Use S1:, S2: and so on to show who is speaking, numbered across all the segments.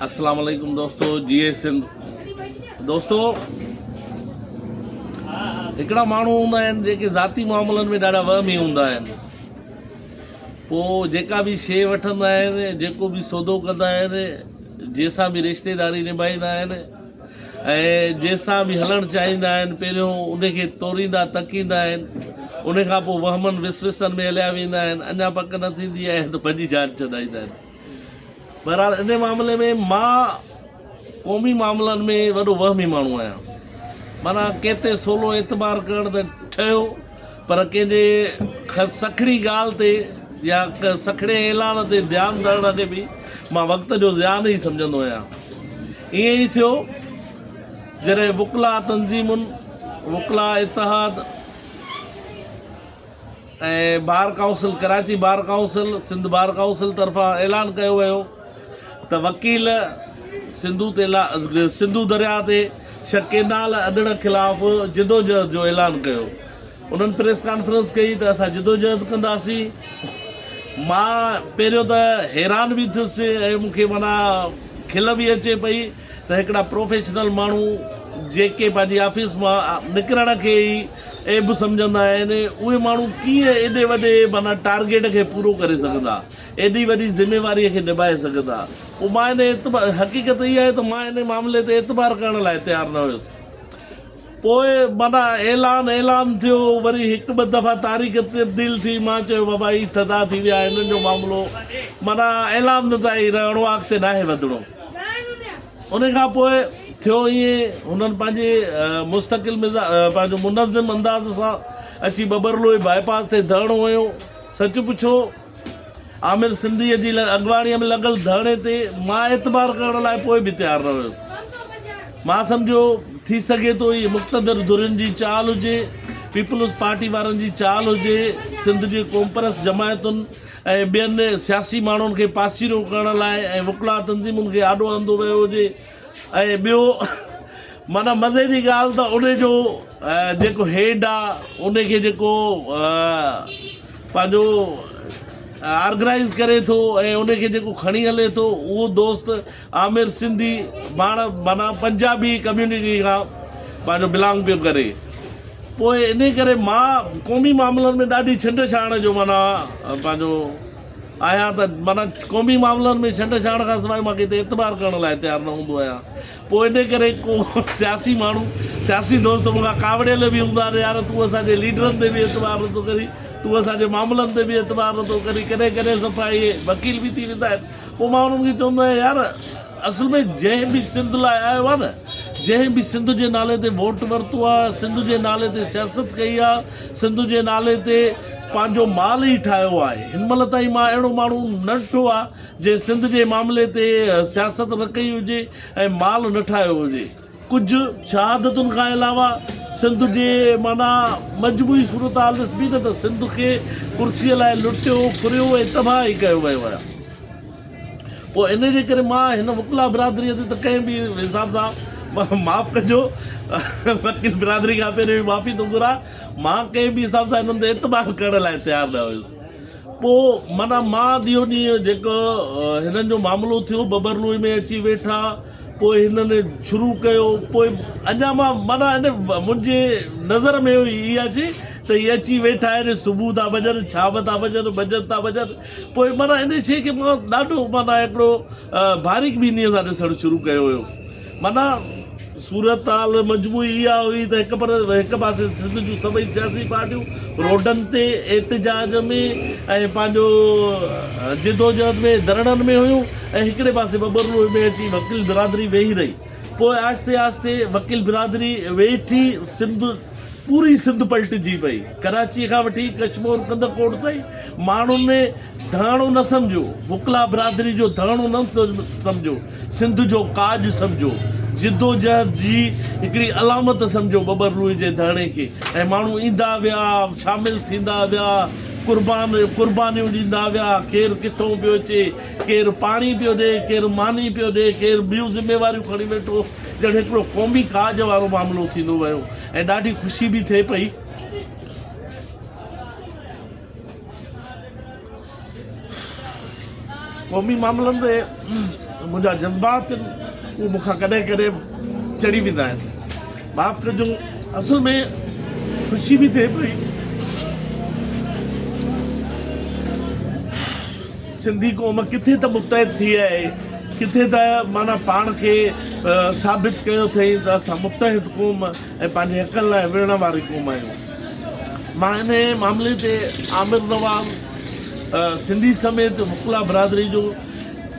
S1: اسلام عليڪم دوستو جي اي سنڌ دوستو هڪڙا ماڻهو هوندا آهن جيڪي ذاتي معاملن ۾ ڏاڍا وهمي هوندا آهن پوء جيڪا به شي وٺندا آهن جيڪو به سودو ڪندا آهن جنهن سان به رشتيداري نڀائيندا آهن ۽ جنهن سان به هلڻ چاهيندا آهن پهريون ان کي توريندا تڪيندا آهن ان کان پوء وهمن وسوسن ۾ هليا ويندا آهن اڃا پڪ نه ٿيندي آهي ته پنهنجي جان ڇڏائيندا آهن بهرحال ان معاملي ۾ مان قومي معاملن ۾ وڏو وهمي ماڻهو آهيان. معنيٰ ڪنهن تي سولو اعتبار ڪرڻ ته ٺهيو پر ڪنهن جي سکڻي ڳالهه تي يا سکڻي اعلان تي ڌيان ڏڻ کي به مان وقت جو زيان ئي سمجهندو آهيان. ائين ئي ٿيو جڏهن وڪلا تنظيمن، وڪلا اتحاد، ۽ bar council Karachi bar council Sindh bar council طرفان اعلان ڪيو ويو ته وڪيل سنڌو تيلا سنڌو درياء تي شھ ڪينال اڏڻ خلاف جدوجهد جو اعلان ڪيو انهن پريس ڪانفرنس ڪئي ته اسان جدوجهد ڪنداسين مان پهريون ته حيران به ٿيس ۽ مون کي معنيٰ کل به اچي پئي ته هڪڙا پروفيشنل ماڻهو جيڪي پنهنجي آفيس مان نڪرڻ کي ئي عيب سمجهندا آهن اهي ماڻهو ڪيئن ايڏي وڏي معنيٰ ٽارگيٽ کي پورو ڪري سگهندا ايڏي وڏي ذميواري کي نڀائي سگهندا پوء مان ان حقيقت اها آهي ته مان ان معاملي تي اعتبار ڪرڻ لاء تيار نه هيس پوء معنيٰ اعلان اعلان ٿيو، وري هڪ ٻه دفعا تاريخ تبديل ٿي، مان چيو بابا هي ٿڌا ٿي ويا، هنن جو معاملو معنيٰ اعلان تائين رهڻو آ اڳتي ناهي وڌڻو. انهي کان پوء ٿيو ائين، هنن پنهنجي مستقل مزاج پنهنجو منظم انداز سان اچي ٻٻرلوئي باء پاس تي ڌرڻو هنيو، سچ پڇو، عامر سنڌيء جي اڳواڻيء ۾ لڳل ڌرڻي تي مان اعتبار ڪرڻ لاء پوء به تيار نه هيس. مان سمجهيو، ٿي سگهي ٿو هيء مقتدر ڌرين جي چال هجي، پيپلز پارٽي وارن جي چال هجي، سنڌ جي قومپرست جماعتن ۽ ٻين سياسي ماڻهن کي پاسيرو ڪرڻ لاء ۽ وڪلا تنظيمن کي آڏو آندو ويو هجي. ۽ ٻيو معنيٰ مزي جي ڳالهه ته ان جو جيڪو هيڊ آ ان کي جيڪو پنهنجو آرگنائيز ڪري ٿو ۽ ان کي جيڪو کڻي هلي ٿو اهو دوست عامر سنڌي پاڻ معنيٰ پنجابي ڪميونٽي کان پنهنجو بلانگ پيو ڪري پوء ان ڪري مان قومي معاملن ۾ ڏاڍي ڇنڊ ڇاڻ جو معنيٰ پنهنجو آهيان ته معنيٰ قومي معاملن ۾ ڇنڊ ڇاڻ کان سواء مان ڪنهن تي اعتبار ڪرڻ لاء تيار نه هوندو آهيان. پوء انهيء ڪري ڪو سياسي ماڻهو، سياسي دوست مون کان ڪاوڙيل به هوندا آهن، يار تون اسان جي ليڊرن تي به اعتبار نٿو ڪرين، تون اسان جي معاملن تي به اعتبار نٿو ڪرين، ڪڏهن ڪڏهن صفا اهي وڪيل به ٿي ويندا آهن، پوء مان انهن کي چوندو آهيان يار! اصل ۾ جنهن به سنڌ لاء آيو آهي نه جنهن به سنڌ جي نالي تي ووٽ ورتو آهي سنڌ جي نالي تي سياست ڪئي آهي سنڌ جي نالي تي پنهنجو مال ئي ٺاهيو آهي هن مهل تائين مان اهڙو ماڻهو نه ڏٺو آهي جنهن سنڌ جي معاملي تي سياست نه ڪئي هجي ۽ مال نه ٺاهيو هجي ڪجهه شهادتن کان علاوه سنڌ جي معنيٰ مجموعي صورتحال ڏسبي نه ته سنڌ کي ڪرسي لاء لٽيو ڦريو ۽ تباهه ئي ڪيو ويو آهي پوء انهي جي ڪري مان هن وڪلا برادري تي ته ڪنهن به حساب سان معاف ڪجو وڪيل برادري کان پهرين به معافي ٿو گهران مان ڪنهن به حساب سان انهن تي اعتبار ڪرڻ لاء تيار نه هيس پوء معنيٰ مان ڏينهون ڏينهن جيڪو هنن جو معاملو ٿيو ببرلوئي ۾ اچي ويٺا پوء هنن شروع ڪيو پوء اڃا مان معنيٰ ان منهنجي نظر ۾ هئي اها جي ته هي اچي ويٺا آهن صبح ٿا وڃن شام ٿا وڃن منجهند ٿا وڃن پوء معنيٰ ان شيء کي مان ڏاڍو معنيٰ هڪڙو باريڪ بينيء سان ڏسڻ شروع ڪيو هيو معنيٰ صورتحال مجموعي اها هئي ته هڪ پر هڪ پاسي سنڌ جون سڀئي سياسي پارٽيون روڊن تي احتجاج ۾ ۽ پنهنجو جدوجهد ۾ ڌرڻن ۾ هيون ۽ هڪڙي پاسي ٻٻر روهي ۾ اچي وڪيل برادري ويهي رهي. پوء آهستي آهستي وڪيل برادري ويٺي سنڌ پوري سنڌ پلٽجي پئي. ڪراچيء کان وٺي ڪشمور ڪنڌڪوٽ تائين ماڻهن ۾ ڌڻو نه سمجهو، وڪلا برادري جو ڌڻو نه سمجهو، سنڌ جو ڪاڄ سمجهو، جدوجهد جي هڪڙي علامت سمجهو ٻٻر روهي جي ڌڻي کي ۽ ماڻهو ايندا ويا، شامل ٿيندا ويا، قربان قربانيون ڏيندا ويا، ڪير ڪٿئون پيو اچي، ڪير پاڻي پيو ڏي، ڪير ماني پيو ڏي، ڪير ٻيون ذميواريون کڻي ويٺو، ڄڻ هڪڙو قومي ڪاڄ وارو معاملو ٿيندو ويو ۽ ڏاڍي خوشي به ٿئي پئي. قومي معاملن تي منهنجا جذبات آهن، اهي مون کان ڪڏهن ڪڏهن چڙي ويندا آهن. معاف ڪجو، اصل ۾ خوشي به ٿئي پئي. سنڌي قوم ڪٿي ته متحد ٿي آهي، ڪٿي ته معنيٰ پاڻ کي ثابت ڪيو اٿئين ته اسان متحد قوم ۽ پنهنجي حقن لاء وڙهڻ واري قوم آهيون. مان انهيء معاملي تي عامر نواز سنڌي سميت وڪلا برادري جو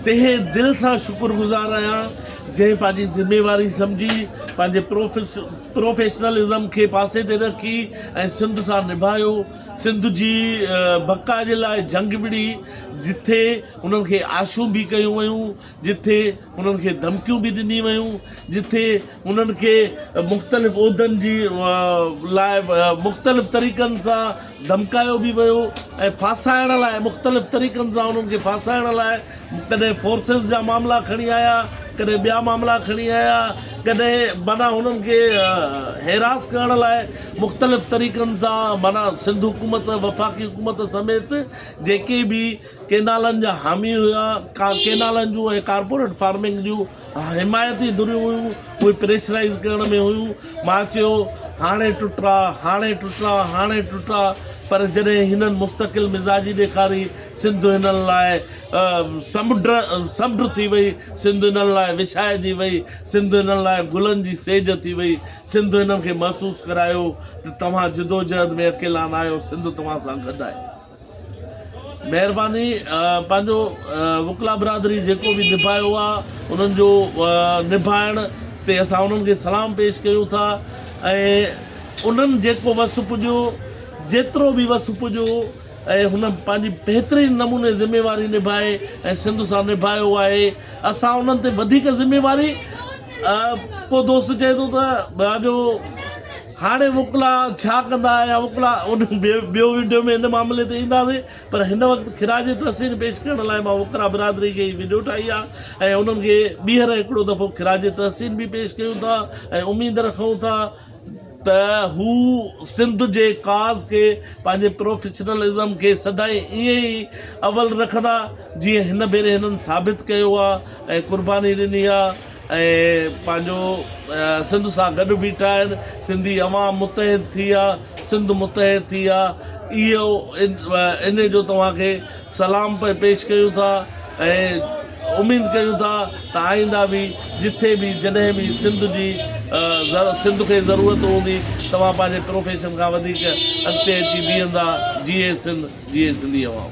S1: تهه دل سان شڪر گذار آهيان، جنهن پنهنجي ذميواري سمجهي، پنهنجي پروفيشنلزم کي پاسي تي رکي ۽ سنڌ سان نڀايو. سنڌ جي بقا جي لاء جنگ وڙهي، جتي هنن کي آشون به ڪيون ويون، جتي هنن کي ڌمڪيون به ڏنيون ويون، جتي هنن کي مختلف عهدن جي لاء مختلف طريقن سان ڌمڪايو به ويو ۽ ڦاسائڻ لاء مختلف طريقن سان هنن کي ڦاسائڻ لاء ڪڏهن فورسز جا معاملا کڻي آيا ڪڏهن ٻيا معاملا کڻي آيا ڪڏهن معنيٰ هنن کي هيراس ڪرڻ لاء مختلف طريقن سان معنيٰ سنڌ حڪومت وفاقي حڪومت سميت جيڪي به ڪينالن جا حامي هيا ڪينالن جون ۽ ڪارپوريٽ فارمنگ جون حمايتي ڌريون هيون اهي پريشرائيز ڪرڻ ۾ هيون مان چيو هاڻي ٽٽا هاڻي ٽٽا هاڻي ٽٽا پر جڏهن هنن مستقل مزاجي ڏيکاري سنڌ هنن لاء سمڊ سمڊ ٿي وئي سنڌ هنن لاء وڇائجي وئي سنڌ هنن لاء گلن جي سيج ٿي وئي سنڌ هنن کي محسوس ڪرايو ته توهان جدوجهد ۾ اڪيلا ناهيو سنڌ توهان سان گڏ آهي. مهرباني پنهنجو وڪلا برادري جيڪو به نڀايو آ انهن جو نڀائڻ تي اسان انهن کي سلام پيش ڪيون ٿا ۽ انهن جيڪو وس پڄيو جيترو به وس پڄيو ۽ هن پنهنجي بهترين نموني ذميواري نڀائي ۽ سنڌ سان نڀايو آهي اسان انهن تي وڌيڪ ذميواري ڪو دوست چئي ٿو ته پنهنجو هاڻي وڪلا ڇا ڪندا يا وڪلا ان ٻيو وڊيو ۾ ان معاملي تي اينداسين پر هن وقت خراج تحسين پيش ڪرڻ لاء مان وڪلا برادري کي هي وڊيو ٺاهي آ ۽ انهن کي ٻيهر هڪڙو دفعو خراج تحسين به پيش ڪيون ٿا ۽ اميد رکون ٿا ته هو سنڌ جي ڪاز کي پنهنجي پروفيشنل ازم کي سدائين ائين ئي اول رکندا جيئن هن ڀيري هنن ثابت ڪيو آ ۽ قرباني ڏني آ. ۽ پنهنجو سنڌ سان گڏ بيٺا آهن سنڌي عوام متحد ٿي آ سنڌ متحد ٿي آ اهو ان جو توهان کي سلام پئي پيش ڪيون ٿا ۽ اميد ڪيون ٿا ته آئنده به جٿي به جڏهن به سنڌ جي سنڌ کي ضرورت هوندي توهان پنهنجي پروفيشن کان وڌيڪ اڳتي اچي بيهندا جيئي سنڌ جيئي سنڌي عوام